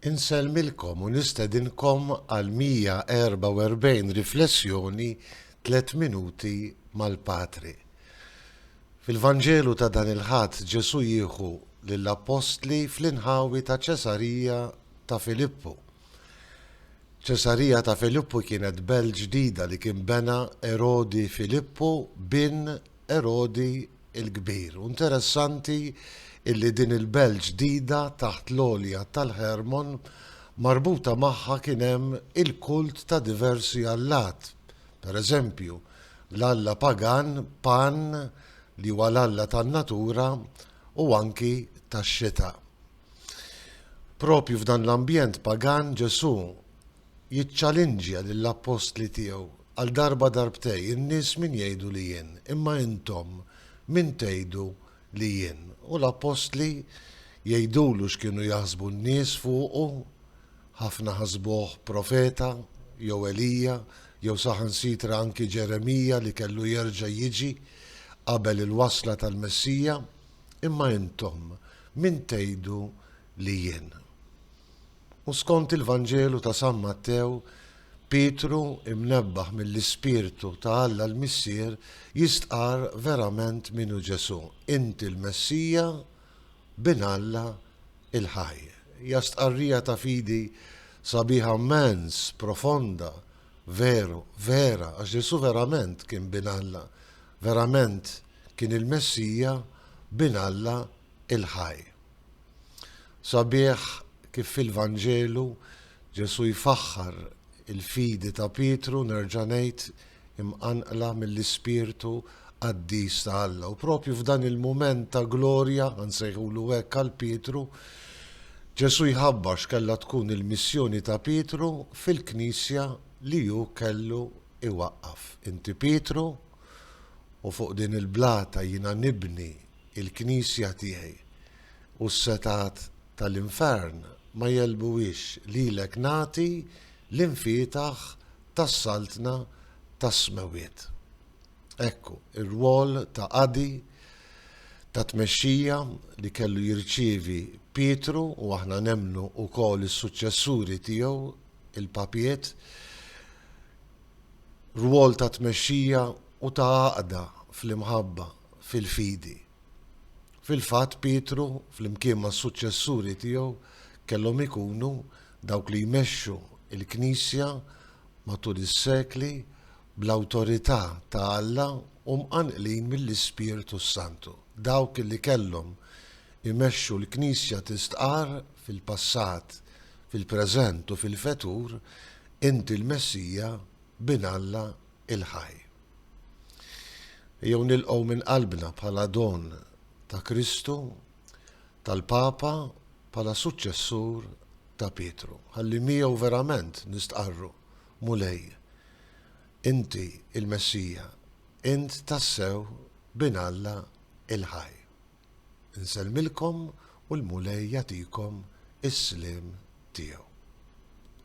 Insellmilkom u nistedinkom għall-144 riflessjoni Tliet Minuti mal-Patri. Fil-Vanġelu ta' dan il-Ħadd Ġesù jieħu lill-Appostli fl-inħawi ta' Ċesarija ta' Filippu. Ċesarija ta' Filippu kienet belt ġdida li kien bena Erodi Filippu bin Erodi il-kbir. U interessanti illi din il-belt ġdida taħt l-għolja tal-Hermon marbuta magħha kien hemm il-kult ta' diversi allat. Per eżempju, l-alla pagan Pan li huwa l-alla tan-natura u anki tax-xita. Propju f'dan l-ambjent pagan Ġesù jiċċalinġja lill-appostli tiegħu Għal darba darbtej, in-nies min jgħidu li jien? Imma intom, min tgħidu li jien? U l-appostli jgħidulu x'kienu jaħsbu n-nies fuqu, Ħafna ħasbuh profeta, jew Elija, jew saħansitra anki Ġeremija li kellu jerġa' jiġi qabel il-wasla tal-Messija. Imma intom, min tgħidu li jien? U skont il-Vanġelu ta' San Mattew, Pietru, imnebbaħ mill-Ispirtu ta' Alla l-Missier, jistqarr verament min hu Ġesù, Inti l-Messija, Bin Alla il-ħaj. Hija stqarrija ta' fidi sabiħa mmens, profonda, veru, vera, għax Ġesù verament kien Bin Alla, verament kien il-Messija, Bin Alla il-ħaj. Sabiħ kif fil-Vanġelu Ġesù jfaħħar il-fidi ta' Pietru, nerġa' ngħid, imqanqla mill-ispirtu qaddis ta' Alla. U propju f'dan il-mument ta' glorja, nsejħulu hekk għal Pietru, Ġesù jħabbar x'kellha tkun il-missjoni ta' Pietru fil-Knisja li hu kellu iwaqqaf. Inti Pietru u fuq din il-blata jiena nibni il-Knisja tiegħi. u s-setgħat ta' l-infern ma jegħlbuhiex lilek nagħti l-imfietaħ tas-Saltna tas-Smewwiet. Ekku, ir-rwol ta' qadi, ta' tmexxija li kellu jirċievi Pietru u aħna nemmnu wkoll is-suċċessuri tiegħu, il-Papiet, rwol ta' tmexxija u ta' għaqda fl-imħabba. fil-fidi. Fil-fatt, Pietru, flimkien mas-suċċessuri tiegħu, kellhom ikunu dawk li jmexxu l-Knisja matul is-sekli bl-awtorità ta' Alla u mqanqlin mill-Ispirtu s-Santu. Dawk li kellhom imexxu l-Knisja tistqarr fil-passat, fil-preżent u fil-fetur, Inti l-Messija, Bin Alla, il-ħaj. Ejjew nilqgħu minn qalbna bħala don ta' Kristu, tal-Papa bħala suċċessur ta' Pietru, ħalli miegħu verament nistqarru, Mulej, Inti l-Messija, Int tassew Bin Alla il-ħaj. Insellmilkom u l-Mulej jagħtikom is-sliem tiegħu.